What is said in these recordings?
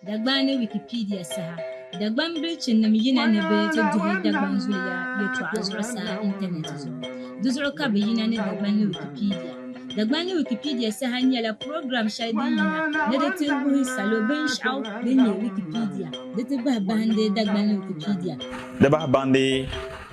Dagbani Wikipedia saha Dagbani bilichinim yina ni bɛ ti duhi Dagbani zuliya yɛtɔɣa zuɣusaa intanɛti zuɣu. Di zuɣu ka bɛ yina ni Dagbani Wikipedia. Dagbani Wikipedia saha nyɛla program shɛli din yina ni di ti wuhi salo binshɛɣu din nyɛ Wikipedia di ti bahi bahindi Dagbani Wikipedia. Di bahi bahindi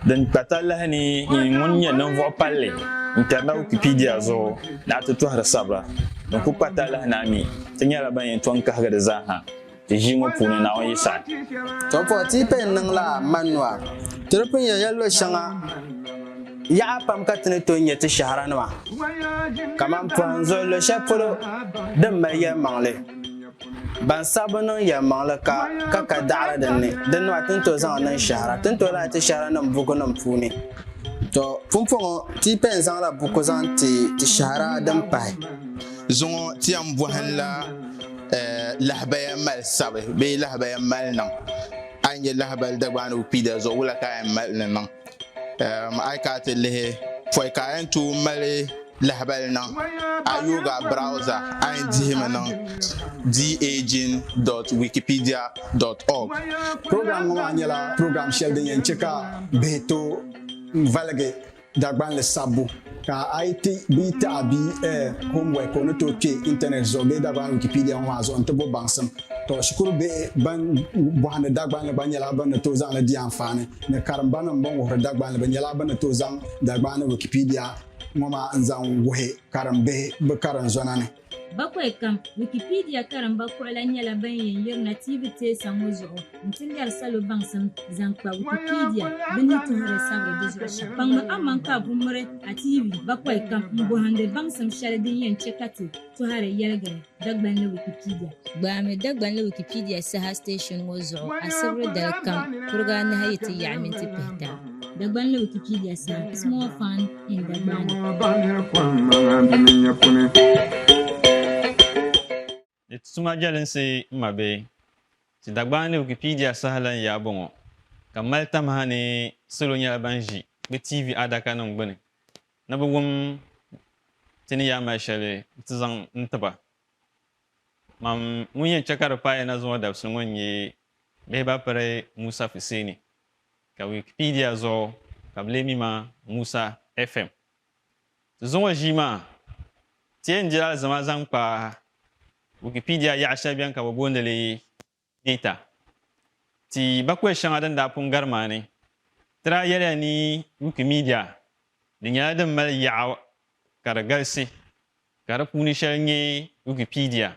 Din kpa talahi ni yi ŋun nyɛ ninvuɣ palli n-kari na Wikipedia zuɣu ni a ti tɔhiri sabira din kul kpa talahi ni a mi ti nyɛla ban yɛn tɔŋ kahigi di zaa ha ti ʒii ŋɔ puuni Naawuni yi saɣi. Tɔbuɣu ti yi paya n-niŋ la Manua, ti di pun yɛn ya luɣ shɛŋa yaɣa pam ka ti ni tooi nya ti shɛhira nima kaman pɔhim zuɣu luɣ shɛli polo din mali yɛlimaŋli. Ban saɣi bi niŋ yɛlimaŋli ka ka ka daɣiri din ni, din nɔhi ti ni tooi zaŋ niŋ shɛhira, ti ni tooi lahi ti shɛhiranim bukunim puuni. Tɔ! Pumpɔŋɔ, ti yi pɛn zaŋla buku zaŋ ti ti shɛhira din pahi. Zuŋɔ ti yɛn bɔhinla lahabaya mali sabi bee lahabaya mali niŋ. A yi nya lahabali Dagbaanigu Kpiida zuɣu, wula ka a yɛn mali ni niŋ? A yi kana ti lihi pɔi ka a yɛn tooi mali lahabali niŋ a yooga browza a yɛn dihimi niŋ daging.wikipedia.org program ŋɔ maa nyɛla program shɛli din yɛn chɛ ka bihi tooi valigi Dagbanli sabbu Ka a yi ti bia taɣi bia eh, homework o ni tooi kpe intanet zuɣu bee Dagbani Wikipedia ŋɔ maa zuɣu nti bo baŋsim. Tɔ, shikuru bihi ban bɔhindi Dagbanli gba nyɛla bɛ ni tooi zaŋ li di anfaani ni karimbanim bɛn wuhiri Dagbanli bɛ nyɛla bɛ ni tooi zaŋ Dagbaani Wikipedia ŋɔ maa n-zaŋ wuhi karimbihi bɛ karinzɔna ni. Bakwai kam, Wikipedia karimba kuɣila nyɛla ban yɛn yirina TV teesa ŋɔ zuɣu n-ti lɛri salo baŋsim zaŋ kpa Wikipedia bɛ ni tuhiri sabiri di zuɣu shɛm. Kpaŋmi aman ka a ku miri a TV bakwai kam m-bɔhindi baŋsim shɛli din yɛn chɛ ka ti tɔhiri yɛligiri Dagbanli Wikipedia. Gbaami Dagbanli Wikipedia saha station ŋɔ zuɣu asibiri dali kam kuriga anahi yi ti yaɣi minti pihita. Dagbanli Wikipedia saha, Small Fund. Di tuma jɛlinsi n ma bɛ ti Dagbani ni Wikipedia saha lan yaa bɔŋɔ, ka mali tamaha ni salo nyɛla ban ʒi bɛ TV adakanim gbuni ni bɛ wum ti ni yaa mali shɛli nti zaŋ n-ti ba. Mam ŋun yɛn chɛ ka di paai na zuŋɔ dabisili ŋɔ n-nyɛ Behibapiri Musa Fuseni. Ka Wikipedia zuɣu ka bɛ lee mi ma Musa FM. Ti zuŋɔ ʒii maa, ti yɛn diri alizama zaŋ kpa Wikipedia yaɣa shɛli beni ka bɛ booni li data. Ti bakuli shɛŋa din daa pun gari maa ni, ti daa yɛliya ni Wikimedia di nyɛla din mali yaɣa ka di galisi, ka di puuni shɛli nyɛ Wikipedia.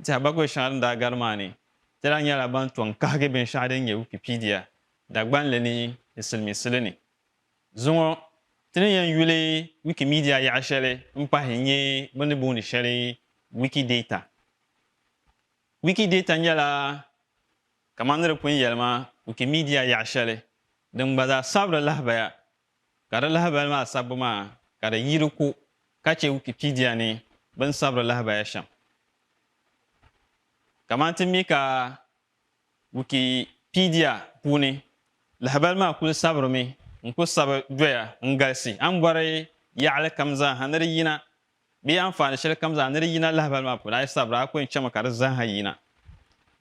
Tɛha baguya shɛŋa din daa gari maa ni, ti daa nyɛla ban tɔŋ kahigi binshɛɣu din nyɛ Wikipedia Dagbanli ni di siliminsili ni. Zuŋɔ, ti ni yɛn yuli Wikimedia yaɣa shɛli m-pahi n-nyɛ bɛ ni booni shɛli Wikidata. Wikidata nyɛla kamani di pun yɛli maa Wikimedia yaɣa shɛli din gba zaa sabiri lahibaya ka di lahabali maa sabbu maa ka di yi di ko ka chɛ Wikipedia ni bɛ ni sabiri lahabaya shɛm. Kamani ti mi ka Wikipedia puuni lahabali maa kuli sabirimi n-kuli sabi doya n-galisi, a ni bɔri yaɣili kam zaa ha ni di yina Bɛ yi anfaani shɛli kam zaa ni di yina lahibali maa puuni, a yi sabira a ku yɛn chɛmi ka di zaaha yina.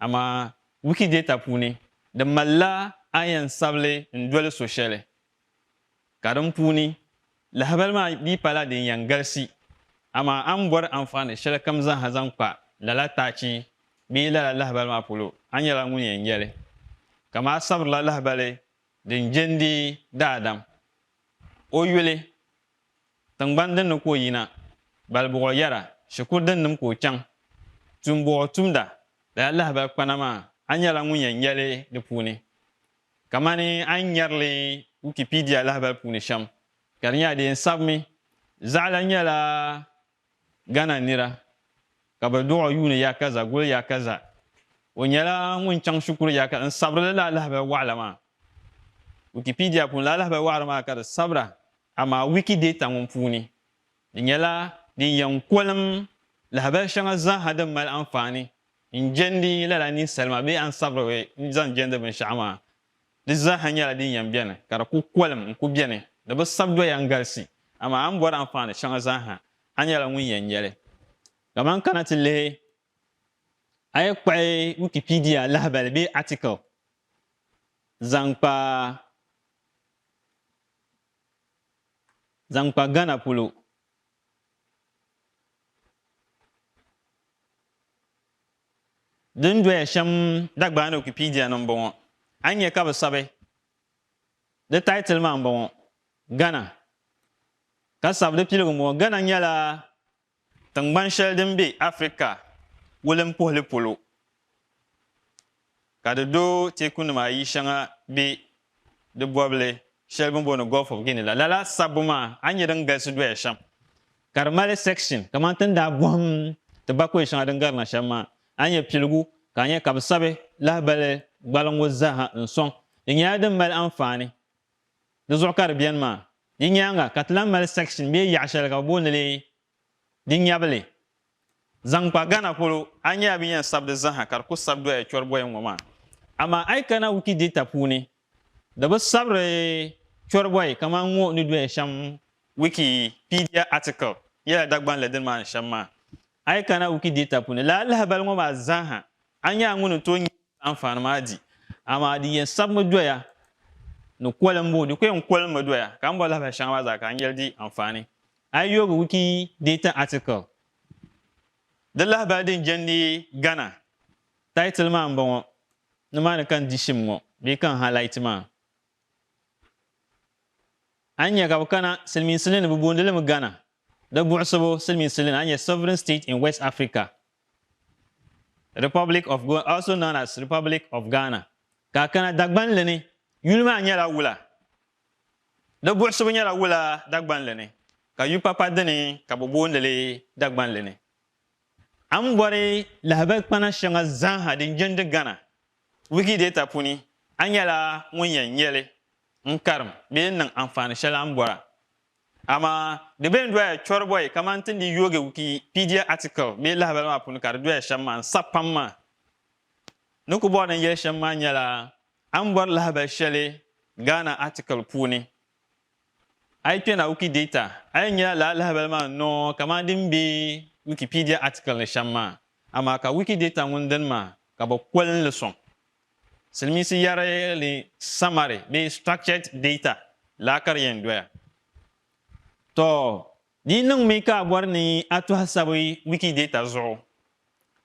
Amaa Wikidata puuni, di malila a ni yɛn sabili n-doli so shɛli, ka din puuni, lahibali maa dii pala din yɛn galisi. Amaa a ni bɔri anfaani shɛli kam zaaha zaŋ kpa lala taachi bee lala lahibali maa polo, a nyɛla ŋun yɛn nya li. Kaman a sabirila lahibali din je n-deei daadam o yuli Tiŋgbani din ni ka o yina, Balibuɣo yɛra, Shikuru din nim ka o chaŋ, Tuumbuɣo tumda, Lala lahabali kpana maa, a nyɛla ŋun yɛn nya li di puuni. Kamani a ni nyari li Wikipedia lahabali puuni shɛm, ka di nyɛla di yɛn sabimi. Zaɣila nyɛla Ghana nira ka bɛ duɣi yuuni Yakaza guli Yakaza. O nyɛla ŋun chaŋ shikuru Yakaza n-sabirili laa lahabali waɣila maa. Wikipedia puuni laa lahabali waɣira maa ka di sabira amaa Wikidata ŋun puuni di nyɛla din yɛn kolim lahabali shɛŋa zaaha din mali anfaani n-jɛndi lala ninsalima bee ansabiriba n-zaŋ jɛndi binshɛɣu maa. Di zaaha nyɛla din yɛn beni, ka di ku kolim n-ku beni. Di bi sabi doya n-galisi, amaa a ni bɔri anfaani shɛŋa zaaha, a nyɛla ŋun yɛn nya li. Kaman kana ti lihi, a yi kpuɣi Wikipedia lahibali bee article zaŋ kpa zaŋ kpa Ghana polo, din doya shɛm Dagbani Wikipedia ni m-bɔŋɔ. A nya ka bɛ sabi di title maa m-bɔŋɔ, Ghana, ka sabi di piligu m-bɔŋɔ, Ghana nyɛla tiŋgbani shɛli din be Africa wulimpuhili polo. Ka di do teekunima ayi shɛŋa be di bɔbili shɛli bɛ ni booni Gulf of Guinea la. Lala sabbu maa a ni nya din galisi doya shɛm, ka di mali section kamani ti ni daa bɔhim ti bakɔi shɛŋa din garina shɛm maa, a ni nya piligu ka a nya ka bɛ sabi lahibali gbaliŋgu zaaha n-sɔŋ. Di nyɛla din mali anfaani. Di zuɣu ka di beni maa. Di nyaaŋa ka ti lahi mali section bee yaɣ shɛli ka bɛ booni li Di nyɛvili, zaŋ kpa Ghana polo, a nya bɛ ni yɛn sabi di zaaha ka di ku sabi doya chɔribɔya ŋɔ maa. Amaa a yi kana Wikidata puuni, di bi sabiri chɔribɔyi kaman ŋɔ ni doya shɛm Wikipedia article nyɛla Dagban li dini maa ni shɛm maa. A yi kana Wikidata puuni, lala lahabali ŋɔ maa zaaha, a nya ŋuni n-tooi nya ka anfaani maa di. Amaa di yɛn sabimi doya ni kolimbu, di ku yɛn kolimi doya, ka m bɔri lahabali shɛŋa maa zaa ka a nya li di anfaani. Ayobu wiki data article Di lahabali din jɛndi Ghana title maa m-bɔŋɔ, nimaani ka n di shim ŋɔ bee ka n highlight maa. A ni nya ka bɛ kana, silimiinsili ni bɛ boondi li mi Ghana, di buɣisibu silimiinsili ni a nya sovereign state in West Africa, Republic of Ghana, also known as Republic of Ghana. Ka a kana Dagbanli ni, yuli maa nyɛla wula Di buɣisibu nyɛla wula Dagbanli ni, ka yu papa dini ka bɛ booni li Dagbanli ni. A ni bɔri lahabali kpana shɛŋa zaaha din jindi Ghana Wikidata puuni, a nyɛla ŋun yɛn nya li n-karim bee n-niŋ anfaani shɛli a ni bɔra. Amaa di be n-doya chɔribɔyi kamani ti ni di yoogi Wikipedia article bee lahabali maa puuni ka di doya shɛm maa n-sa pam maa. Ni ku bɔri ni n yɛli shɛm maa nyɛla A ni bɔri lahabali shɛli Ghana article puuni. A yi kpɛna Wikidata, a yɛn nyɛla lala lahabali maa n-noo kamani din be Wikipedia article ni shɛm maa. Amaa ka Wikidata ŋun dini maa ka bɛ koli li sɔŋ. Silimiinsi yɛri li summary bee structured data laa ka di yɛn doya. Tɔɔ di niŋmi ka a bɔri ni a tɔhi sabi Wikidata zuɣu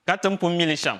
ka ti ni pun mi li shɛm,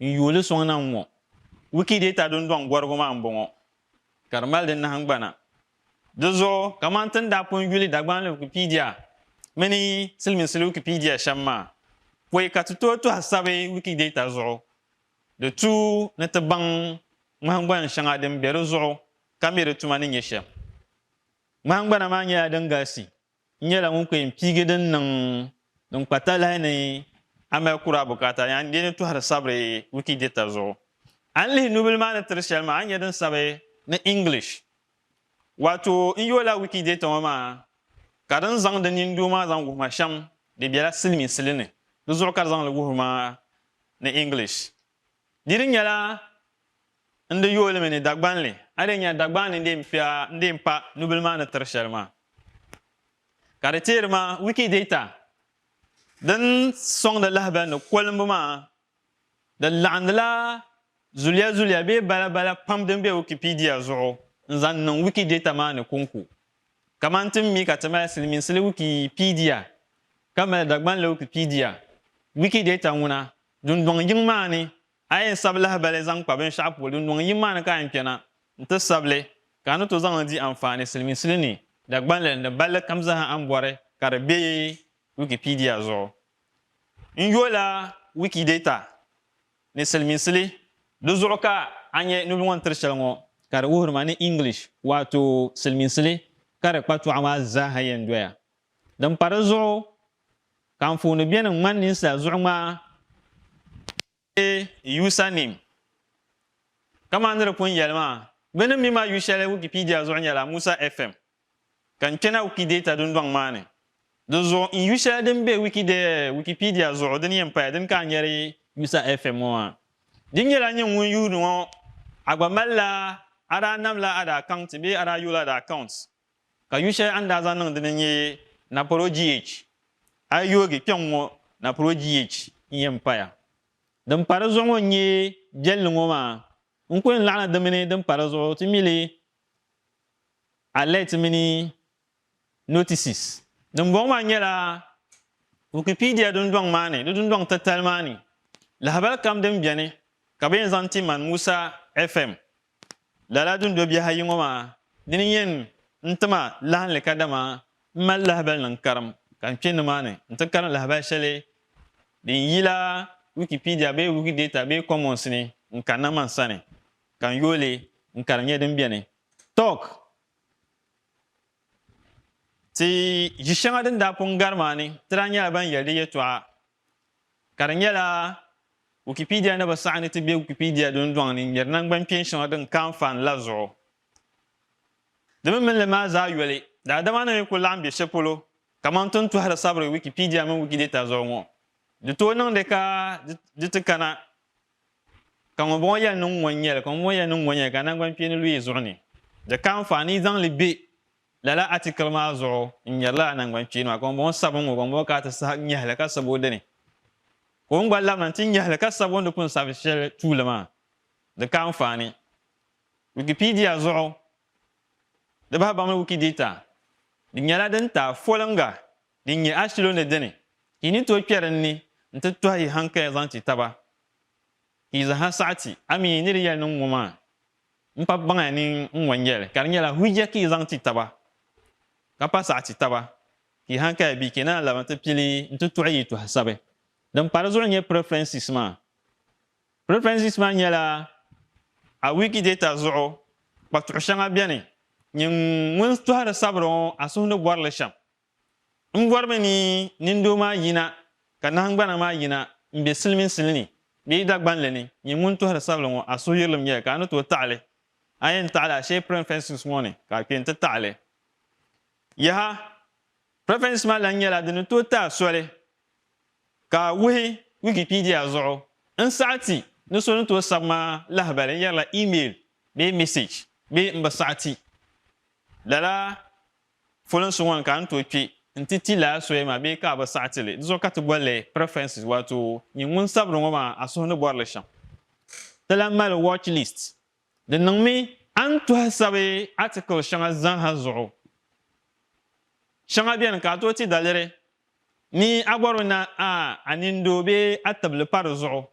N yuuli suŋ na n-ŋɔ. Wikidata dundɔŋ gɔrigu maa m-bɔŋɔ, ka di mali di nahingbana. Di zuɣu, kaman ti ni daa pun yuli Dagbani Wikipedia mini Siliminsili Wikipedia shɛm maa, pɔi ka ti tooi tɔhi sabi Wikidata zuɣu, di tu ni ti baŋ ŋmahingbana shɛŋa din be di zuɣu ka mi di tuma ni nyɛ shɛm. Ŋmahingbana maa nyɛla din galisi. N nyɛla ŋun kpee n piigi din niŋ din kpa talahi ni a mali kuri a bukaata ni a ni bɛ ni tɔhiri sabiri Wikidata zuɣu. A ni lihi nubila maa ni tiri shɛli maa, a ni nya din sabi ni English. Waato n yo la Wikidata ŋɔ maa ka di ni zaŋ di nini doo maa zaŋ wuhi ma shɛm di bela silimiinsili ni, di zuɣu ka di zaŋ li wuhiri ma ni English. Di di nyɛla n di yooli mi ni Dagbanli, a di nya Dagbanli n-dee m-fia n-dee m-pa nubila maa ni tiri shɛli maa. Ka di teeri ma Wikidata din sɔŋdi lahabali ni kolimbu maa di laɣindila zuliya zuliya bee bala bala pam din be Wikipedia zuɣu n-zaŋ niŋ Wikidata maa ni kɔŋko. Kamani ti ni mi ka ti mali Silimiinsili Wikipedia ka mali Dagbanli Wikipedia, Wikidata ŋuna Dundɔŋ yiŋ maa ni, a yɛn sabi lahibali zaŋ kpa binshɛɣu polo dundɔŋ yiŋ maa ni ka a yɛn kpe na n-ti sabi li, ka a ni tooi zaŋ li di anfaani silimiinsili ni, Dagbanli ni balli kam zaa a ni bɔri ka di be Wikipedia zuɣu. N yo la Wikidata ni silimiinsili, di zuɣu ka a nya nubili ŋɔ ni tiri shɛli ŋɔ ka di wuhiri ma ni English waato silimiinsili ka di kpatɔɣu maa zaa ha yɛn doya. Din pa di zuɣu Ka anfooni beni ŋmani ninsal zuɣu ŋmaa ni yuusa nim. Kaman ni di pun yɛli maa, bɛ ni mi ma yu shɛli Wikipedia zuɣu nyɛla Musa FM. Ka n kpɛna Wikidata dundɔŋ maa ni. Di zuɣu n yu shɛli din be Wikipedia zuɣu din yɛn paya dini ka a nyari Musa FM ŋɔ maa. Di nyɛla nyini ŋun yuuni ŋɔ a gba malila a daa namla a daa kaŋti bee a daa yula a daa kaunti. Ka yu shɛli a ni daa zaŋ niŋ di ni n-nyɛ napɔro GH. A yi yoogi kpɛŋ ŋɔ napɔro GH n-yɛn paya. Din pa di zuɣu ŋɔ n-nyɛ biɛlli ŋɔ maa. N ku yɛn laɣina di mini din pa di zuɣu ti mi li alert mini notices. Dimbɔŋɔ maa nyɛla Wikipedia dundɔŋ maa ni di dundɔŋ titali maa ni lahabali kam din beni ka bɛ yɛn zaŋ ti man Musa FM Lala dundo biɛhi ayi ŋɔ maa dini n-yen n-ti ma lahinli kadama m mali lahibali ni n karim ka n kpe nimaani n-ti karim lahibali shɛli din yi la Wikipedia bee Wikidata bee Commons ni n kanna man sani ka n yooi li n ka di nyɛ din beni. Tɔk! Ti yi shɛŋa din daa pun gari maa ni ti daa nyɛla ban yɛli di yɛtɔɣa Ka di nyɛla Wikipedia ni bi saɣi ni ti be Wikipedia dundɔŋ ni ŋmeri nangbankpɛn shɛŋa din ka anfaani la zuɣu. Di mini minli maa zaa yoli, daadama ni mi ku laɣim be shɛli polo kaman ti ni tɔhiri sabiri Wikipedia mini Wikidata zuɣu ŋɔ, di tooi niŋdi ka di ti kana ka ŋunbɔŋɔ yɛli ni ŋun ŋɔ n-nyɛli, ka ŋunbɔŋɔ yɛli ni ŋun ŋɔ n-nyɛli ka nangbankpeeni lu yi zuɣu ni di ka anfaani yi zaŋ li be Lala atikili maa zuɣu n nyarila a nangban kpeeni maa ka ŋun bɔŋɔ sabi n ŋɔ ka ŋun bɔŋɔ ka a ti sahi nyɛhi li ka sabi o dini ka o ni gba labina nti nyɛhi li ka sabi o ni di pun sabi shɛli tuuli maa di ka anfaani Wikipedia zuɣu di bahi baŋmi Wikidata di nyɛla din ti a foliŋga din nyɛ a shilo ni dini ka yi ni tooi kpɛri n ni nti tɔhi yi hankaya zaŋ ti taba ka yi zaha saɣiti a mi ni di yɛli niŋ ŋɔ maa. N kpa baŋ ya ni n wan yɛli ka di nyɛla hujja ka yi zaŋ ti taba, ka pa saɣi ti taba, ka yi hankaya bɛ kpe naan labi n ti pili n ti tuɣi yi tɔha sabi. Din pa di zuɣu n-nyɛ preferences maa. Preferences maa nyɛla a Wikidata zuɣu kpatuɣu shɛŋa bɛni, nyini ŋun tɔhiri sabiri ŋɔ a suhu ni bɔri li shɛm. M bɔrimi ni nindoo maa yina ka nahingbana maa yina m-be siliminsili ni bee yi Dagbanli ni nyɛ ŋun tɔhiri sabili ŋɔ a suhuyirilim nyɛla ka a ni tooi taɣi li. A yɛn taɣi li a shee preferences ŋɔ ni ka a kpe n-ti taɣi li. Yaha! Preferences maa lahi nyɛla di ni tooi ti a soli ka a wuhi Wikipedia zuɣu n saɣi ti ni so ni tooi sabi ma lahibali n yɛrila email bee message bee m bi saɣi ti. Lala Folinsi ŋɔ ni ka n tooi kpi nti ti lala soya maa bee ka a bi saɣi ti li, di zuɣu ka ti boli li preferences, waato nyin ŋun sabiri ŋɔ maa a suhu ni bɔri li shɛm. Ti lahi mali watch list, di niŋmi a ni tɔhi sabi article shɛŋa zaaha zuɣu. Shɛŋa beni ka a tooi ti daliri ni a bɔri o ni a a nindoo bee a tibili pa di zuɣu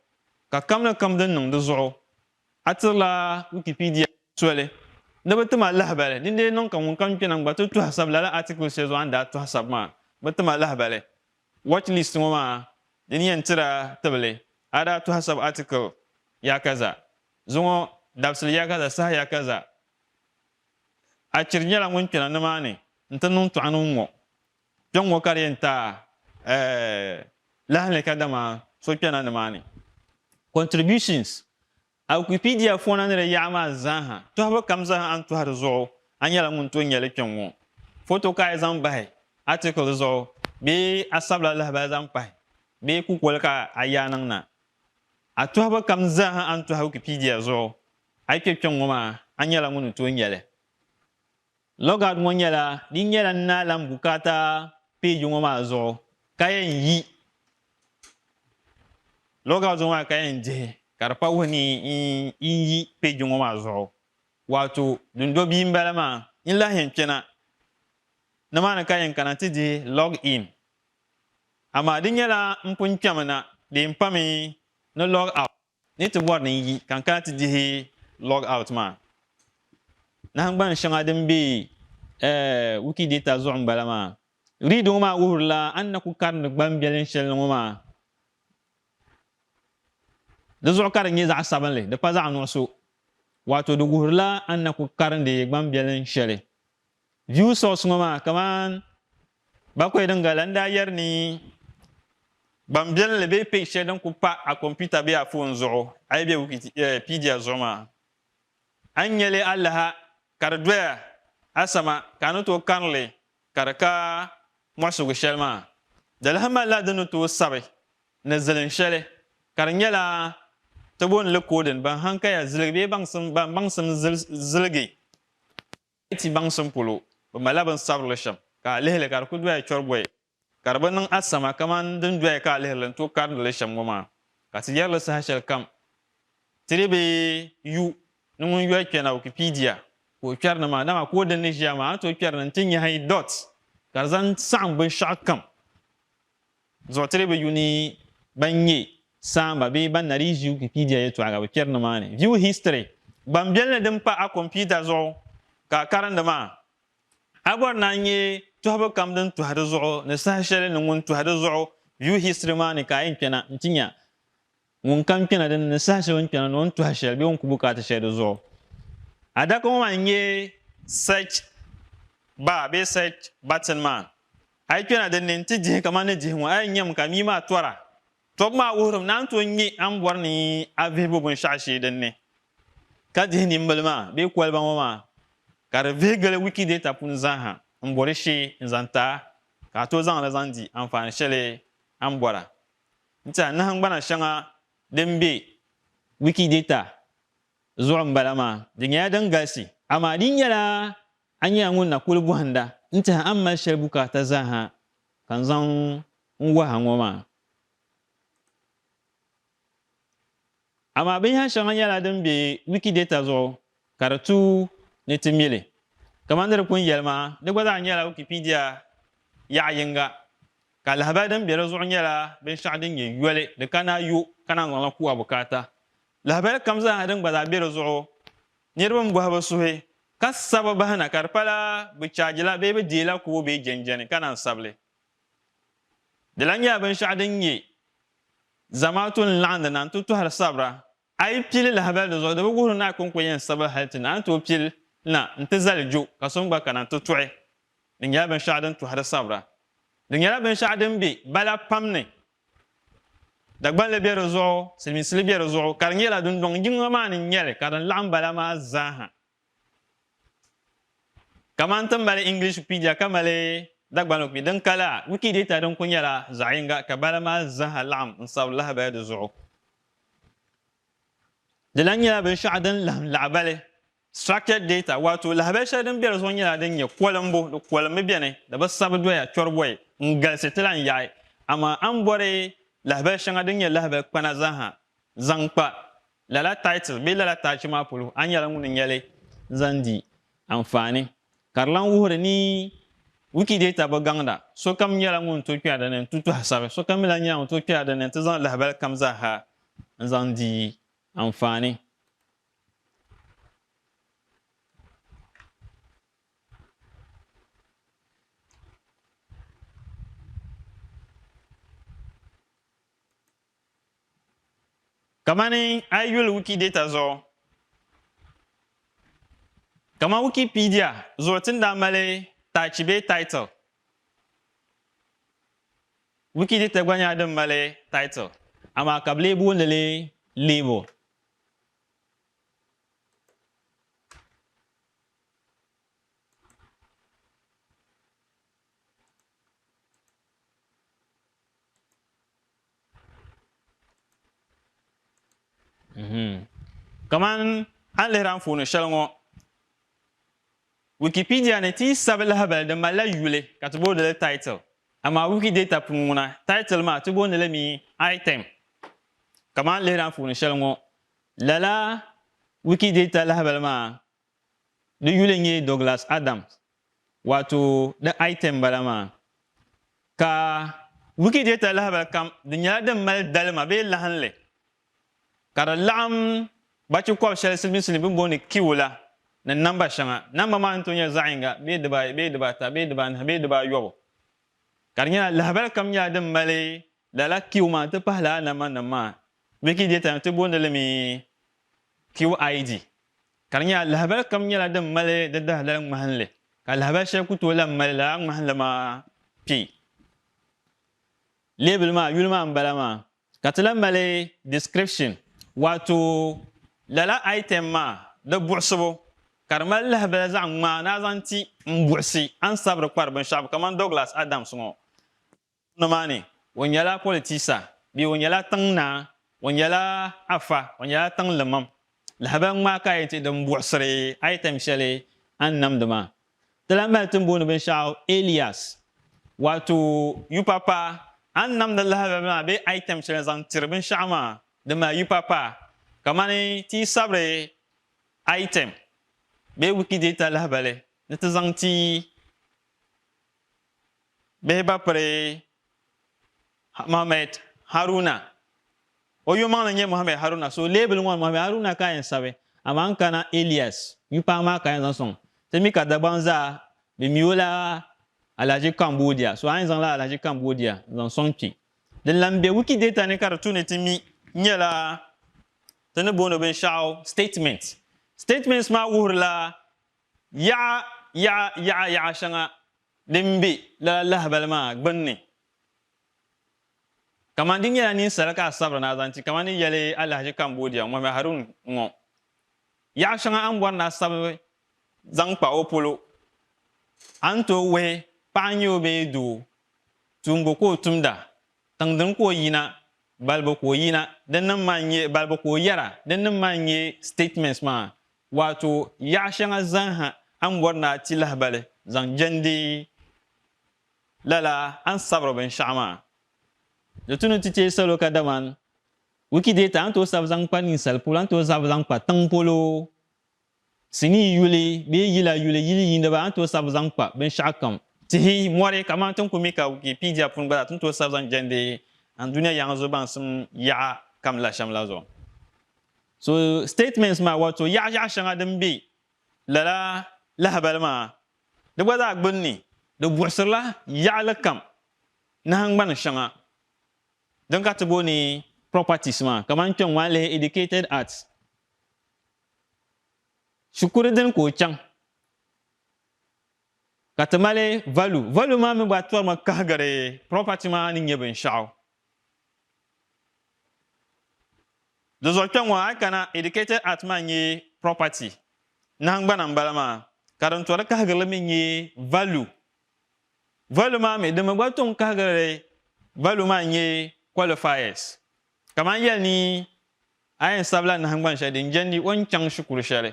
ka kam ni kam din niŋ di zuɣu. A tirila Wikipedia soli ni bɛ tim a lahibali. Din lee niŋ ka ŋunkam kpe na n-gba ti tɔhasab lala article shɛli zuɣu a ni daa tɔhasab maa, bɛ tim a lahibali. Watch list ŋɔ maa di ni yɛn tir a tibili a daa tɔhasab article yaakaza zuŋɔ dabisili yaakaza saha yaakaza. A chiri nyɛla ŋun kpe na nimaani n-ti niŋ tɔɣa niŋ ŋɔ. Kpe ŋ-ŋɔ ka di yɛn ta lahi li kadama so kpɛna ni maa ni. Contributions, A Wikipedia fɔna ni di yaɣa maa zaaha tɔhibu kam zaaha a ni tɔhi di zuɣu a nyɛla ŋun tooi nya li kpe ŋ-ŋɔ. Foto ka a yi zaŋ bahi article zuɣu bee a sabila lahabali zaŋ pahi bee kukoli ka a yaa niŋ na. A tɔhibu kam zaaha a ni tɔhi Wikipedia zuɣu a yi kpe kpe ŋ-ŋɔ maa a nyɛla ŋun ni tooi nya li. Logout ŋɔ nyɛla din nyɛla n naa lan bukaata peeji ŋɔ maa zuɣu ka yɛn yi logout ŋɔ maa ka yɛn dihi ka di pa wuhi ni n yi peeji ŋɔ maa zuɣu waato dundo bia m-bala maa. N lahi yɛn kpɛna nimaani ka yɛn kana ti dihi log in amaa di nyɛla m pun kpɛmi na bee m pami ni log out. Ni ti bɔri ni n yi ka n kana ti dihi log out maa, nahingban shɛŋa din be Wikidata zuɣu m-bala maa. Read ŋɔ maa wuhirila a ni na ku karindi gbambiɛlin shɛli ni ŋɔ maa. Di zuɣu ka di nyɛ zaɣ sabinli, di pa zaɣ nuɣiso. Waato di wuhirila a ni na ku karindi gbambiɛlin shɛli View source ŋɔ maa kaman Bakoy Dingala n-daa yɛri ni gbambiɛlli bee page shɛli din kuli pa a kɔmputa bee a foon zuɣu a yi be Wikipedia zuɣu maa, a ni nya li alaha ka di doya asama ka a ni tooi kari li ka di ka muɣisigu shɛli maa, dalahi malila di ni tooi sabi ni zilin shɛli ka di nyɛla ti booni li coding ban hankaya ziligi bee baŋsim ban baŋsim ziligi. Di ti baŋsim polo, bɛ malila binsabirili shɛm ka a lihi li ka di ku doya chɔribɔyi, ka di bi niŋ a sama kamani din doya ka a lihiri li n-tooi karindi li shɛm ŋɔ maa, ka ti yɛri li saha shɛli kam. Ti di bi yu ni ŋun yoli kpɛ na Wikipedia ka o kpɛri ni maa, dama ka o dini ni ʒiya maa, a ni tooi kpɛri ni nti nyahi dot ka di zaŋ saɣim binshɛɣu kam. Zuɣutiribi yuni ban nyɛ saamba bee ban na dii ʒi Wikipedia yɛltɔɣa ka bi kpɛri ni maa ni View History gbambiɛl ni din pa a kompiuta zuɣu ka a karindi maa. A bɔri ni a nyɛ tɔhibu kam din tɔhi di zuɣu ni saha shɛli ni ŋun tɔhi di zuɣu View History maa ni ka a yɛn kpɛna nti nya Ŋun kam kpɛna din ni saha shɛli o ni kpɛna ni o ni tɔhi shɛli bee o ni ku bukaata shɛli di zuɣu. Adaka ŋɔ maa n-nyɛ search bar bee search button maa. A yi kpɛna din ni nti dihi kamani ni dihi ŋɔ, a yɛn nyami ka mia maa tɔra. Tɔbu maa wuhirim ni a ni tooi nya a ni bɔri ni a vihibu binshɛɣu shee din ni ka dihi nimbila maa bee koliba ŋɔ maa ka di vihi gili Wikidata puuni zaaha m-bɔri shee n-zaŋ ti a ka a tooi zaŋ li zaŋ di anfaani shɛli a ni bɔra. N-tɛha nahingbana shɛŋa din be Wikidata zuɣu m-bala maa. Di nyɛla din galisi, amaa di nyɛla a nyɛla ŋun na kuli bɔhinda n-tɛha a ni mali shɛli bukaata zaaha ka n zaŋ n-wahi a ŋɔ maa. Amaa binyɛhiri shɛŋa nyɛla din be Wikidata zuɣu ka di tuui ni ti mi li. Kamani di pun yɛli maa, di gba zaa nyɛla Wikipedia yaɣa yiŋga, ka lahibali din be di zuɣu nyɛla binshɛɣu din nyɛ yoli, di ka naai yo ka naan zaŋ li ku a bukaata. Lahibali kam zaa ha din gba zaa be di zuɣu, niriba m-bɔhi bi suhi ka sabi bahi na ka di pala bɛ chaajila bee bɛ deei la kubu bee jɛnjɛni ka naan sabi li. Di lahi nyɛla binshɛɣu din nyɛ zamaatu ni laɣindi na n-ti tɔhiri sabira. A yi pii li lahibali di zuɣu, di bi wuhiri ni a kɔŋko yɛn sabigi hali ti ni a ni tooi pii li na n-ti zali jo ka so mi gba kana n-ti tɔhi. Di nyɛla binshɛɣu din tɔhiri sabira. Di nyɛla binshɛɣu din be bala pam ni. Dagbanli be di zuɣu, Silimiinsili be di zuɣu ka di nyɛla dundɔŋ yiŋa maa ni n-nyɛ li ka din laɣim bala maa zaa ha. Kaman ti mali Englishpedia ka mali Dagbanlikpi din ka la, Wikidata din kuli nyɛla zaɣ yiŋga ka bala maa zaaha laɣim n-sabi lahabali di zuɣu. Di lahi nyɛla binshɛɣu din laɣim lahabali, structured data, waato lahabali shɛli din be di zuɣu nyɛla din nyɛ kolimbu, di kolimmi beni, di bi sabi doya chɔribɔyi n-galisi ti lahi yaɣi. Amaa a ni bɔri lahabali shɛŋa din nyɛ lahabali kpana zaaha zaŋ kpa Lala title bee lala taachi maa polo, a nyɛla ŋun nya li zaŋ di anfaani, ka di lan wuhiri ni Wikidata bi gaŋda. Sokam nyɛla ŋun tooi kpɛri di ni nti tɔhi sabi. Sokam mi lan nyɛla ŋun tooi kpɛri di ni nti zaŋ lahibali kam zaa ha n-zaŋ di anfaani. Kamani a yi yuli Wikidata zuɣu, kamani Wikipedia zuɣu ti ni daa mali taachi bee title, Wikidata gba nyɛla din mali title amaa ka bi lee booni li label. Mhm. kaman a ni lihiri anfooni shɛli ŋɔ wikipedia ni ti yi sabi lahabali di malila yuli ka ti boonili title amaa wikidata puuni ŋuna title maa ti booni limi item kaman a ni lihiri anfooni shɛli ŋɔ lala wikidata lahabali maa di yuli n-nyɛ Douglas Adams Wato di item bala maa. Ka Wikidata lahabali kam di nyɛla din mali dalima bee lahinli ka di laɣim bachi kɔb shɛli Silimiinsi ni bini booni kiwu la ni namba shɛŋa. Namba maa ni tooi nyɛ zaɣ'yiŋga bee dibaayi bee dibaata bee dibaanahi bee dibaayɔbu ka di nyɛla lahabali kam nyɛla din mali lala kiwu maa nti pahi lala nambanima maa. Wikidata ti booni li mi QID. Ka di nyɛla lahibali kam nyɛla din mali di dahidali ŋmahinli, ka lahibali shɛli ku tooi lahi mali lala ŋmahinli maa kpe leebili maa yuli maa m-bala maa. Ka ti lahi mali description, waato lala item maa di buɣisibu ka di mali lahibali zaɣ ŋmaa ni a zaŋ ti m buɣisi a ni sabiri kpari binshɛɣu kamani Douglas Adams ŋɔ. Tiŋgbɔŋ maa ni, o nyɛla politisa bee o nyɛla tiŋ naa, o nyɛla afa, o nyɛla tiŋ limam. Lahabali ŋmaa ka a yɛn ti din buɣisiri item shɛli a ni namdi maa? Ti lahi mali tin booni binshɛɣu alias, waato yupapa. A ni namdi lahabali maa bee item shɛli n-zaŋ tiri binshɛɣu maa, di mali yupapa. Kamani ti yi sabiri item bee Wikidata lahabali ni ti zaŋ ti. bihi ba piri Muhammad Haruna o yomaŋli nyɛ Muhammad Haruna so leebili ŋɔ ni Muhammad Haruna ka yɛn sabi amaa n kana Elias mi paɣa maa ka yɛn zaŋ sɔŋ ti mi ka Dagbaŋ zaa bɛ mi o la Alhaji Cambodia so a yɛn zaŋla Alhaji Cambodia n zaŋ sɔŋ kpi din lan be Wikidata ni ka di tu ni ti mi nyɛla ti ni booni binshɛɣu statement statements maa wuhirila Yaɣa yaɣa yaɣa yaɣa shɛŋa din be lala lahabali maa gbinni, kamani di nyɛla ninsal ka a sabiri ni a zaŋ ti kamani ni yɛli Alahaji Cambodia Mohammed Harun ŋɔ. Yaɣa shɛŋa a ni bɔri ni a sabi zaŋ kpa o polo, a ni tooi wuhi paɣa n-nyɛ o bee doo, tuumbu ka o tumda, tiŋdini ka o yina, balibu ka o yina, dinnim maa n-nyɛ, balibu ka o yɛra, dinnim maa n-nyɛ statements maa Waato yaɣa shɛŋa zaŋha a ni bɔri ni a ti lahibali zaŋ jɛndi lala a ni sabiri binshɛɣu maa. Di tu ni ti teei salo kadamani Wikidata a ni tooi sabi zaŋ kpa ninsal polo, a ni tooi zabi zaŋ kpa tiŋ polo, sinii yuli bee yila yuli, yili yiiniba a ni tooi sabi zaŋ kpa binshɛɣukam, tihi, mɔri kamani ti ni ku mi ka Wikipedia puuni gba zaa ti ni tooi sabi zaŋ jɛndi a ni dunia yaŋa zuɣu baŋsim yaɣa kam la shɛm la zuɣu. So statements maa wato yaɣa yaɣa shɛŋa din be lala lahabali maa di gba zaa gbunni di buɣisirila yaɣili kam nahingbani shɛŋa din ka ti booni properties maa kamani kpɛŋ ŋɔ a lihi educated at shikuru dini ka o chaŋ ka ti mali value value maa mi gba torimi kahigiri property maa ni nyɛ binshɛɣu Di zuɣu kpe ŋɔ a yi kana educated at maa n-nyɛ property, nahingbana m-bala maa, ka din tɔri kahigirili mi n-nyɛ value. Value maa mi din mi gba tom kahigirili value maa n-nyɛ qualifiers. Kamani yɛli ni a yɛn sabila nahingbani shɛli din jɛndi o ni chaŋ shikuru shɛli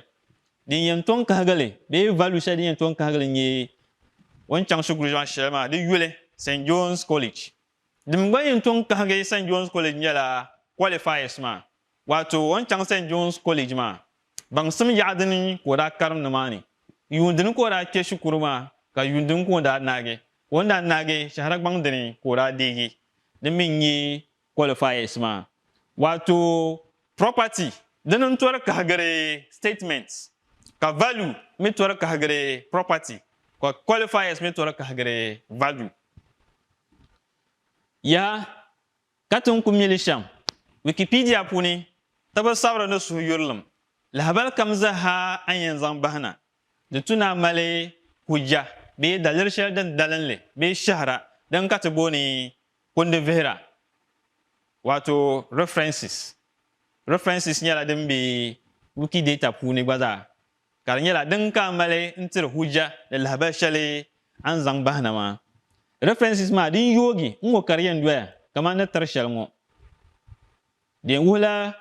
din yɛn tom kahigirili bee value shɛli din yɛn tom kahigirili n-nyɛ o ni chaŋ shikuru shɛli maa di yuli, St John's College Din gba yɛn tɔŋ kahigi St John's College nyɛla qualifiers maa, waato o ni chaŋ St John's College maa baŋsim yaɣa dini ka o daa karim nimaani, yuun dini ka o daa kpe shikuru maa ka yuun dini ka o daa naagi. O ni daa naagi shɛhira gbaŋ dini ka o daa deegi din mi n-nyɛ qualifiers maa, waato property dini n-tɔri kahigiri statement ka value mi tɔri kahigiri property ka qualifiers mi tɔri kahigiri value. Yaa ka ti ni ku mi li shɛm, Wikipedia puuni tabi sabiri ni suhu yurilim lahabali kam zaha a ni yɛn zaŋ bahi na, di tu ni a mali hujja bee daliri shɛli din dalinli bee shɛhira din ka ti booni kundi vihira, waato references. References nyɛla din be Wikidata puuni gba zaa. Ka di nyɛla din ka a mali n tiri hujja ni lahabali shɛli a ni zaŋ bahi na maa. References maa din yoogi n ŋɔ ka di yɛn doya kamani ni tiri shɛli ŋɔ. Di yɛn wuhila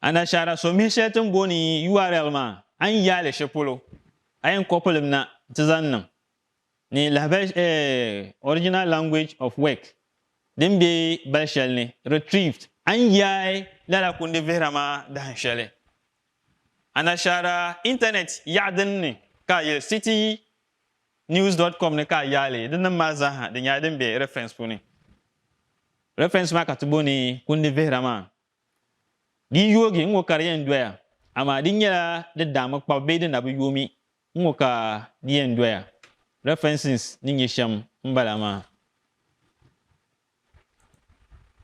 anashaara so mihi shɛli ti ni booni url maa a ni yaai li shɛli polo. A yɛn copy li mi na nti zaŋ niŋ ni lahabali eh original language of work din be bali shɛli ni retrieved a ni yaai lala kundi vihira maa dahin shɛli. Anashaara Intanɛt yaɣa din ni ka a yili citynews dot com ni ka a yaali di nim maa zaaha din nyɛla din be reference puuni. Reference maa ka ti booni kundi vihira maa. Di yoogi n-ŋɔ ka di yɛn doya, amaa di nyɛla di daa mi kpabi bee di na bi yoomi n-ŋɔ ka di yɛn doya. References ni nyɛ shɛm m-bala maa.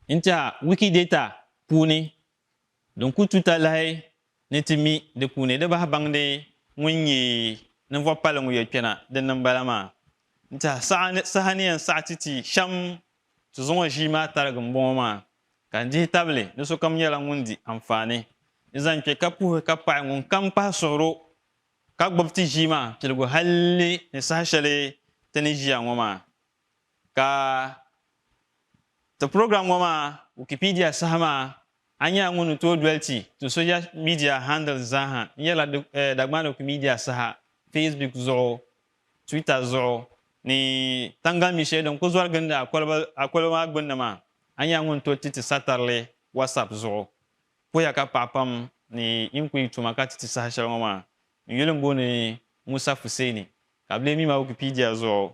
N-tiɛha Wikidata puuni Din ku tuta lahi ni ti mi di puuni di bahi baŋdi ŋun nyɛ ninvuɣ palli ŋɔ yɛlkpɛna din niŋ bala maa n-tihi saha ni yɛn saɣi ti ti shɛm ti zaŋ o ʒii maa tarigi m-bɔŋɔ maa, ka n dihi tabili ni sokam nyɛla ŋun di anfaani ni zaŋ kpe ka puhi ka paɣi ŋunkam pahi suhiri o ka gbib ti ʒii maa piligu hal ni saha shɛli ti ni ʒiya ŋɔ maa. Ka ti program ŋɔ maa Wikipedia saha maa, a nyɛla ŋun ni tooi doli ti ti social media handles zaaha n-yɛrila Dagbani Wikimedia saha Facebook zuɣu, Twitter zuɣu ni taŋgalimi shɛli din kuli zɔri gindi a koliba maa gbunni maa. A nyɛla ŋun toli ti ti satarili WhatsApp zuɣu. Puhiya ka paɣa pam ni yin kuli yi tuma ka ti ti saha shɛli ŋɔ maa n-yuli m-booni Musa Fuseni ka bɛ lee mi ma Wikipedia zuɣu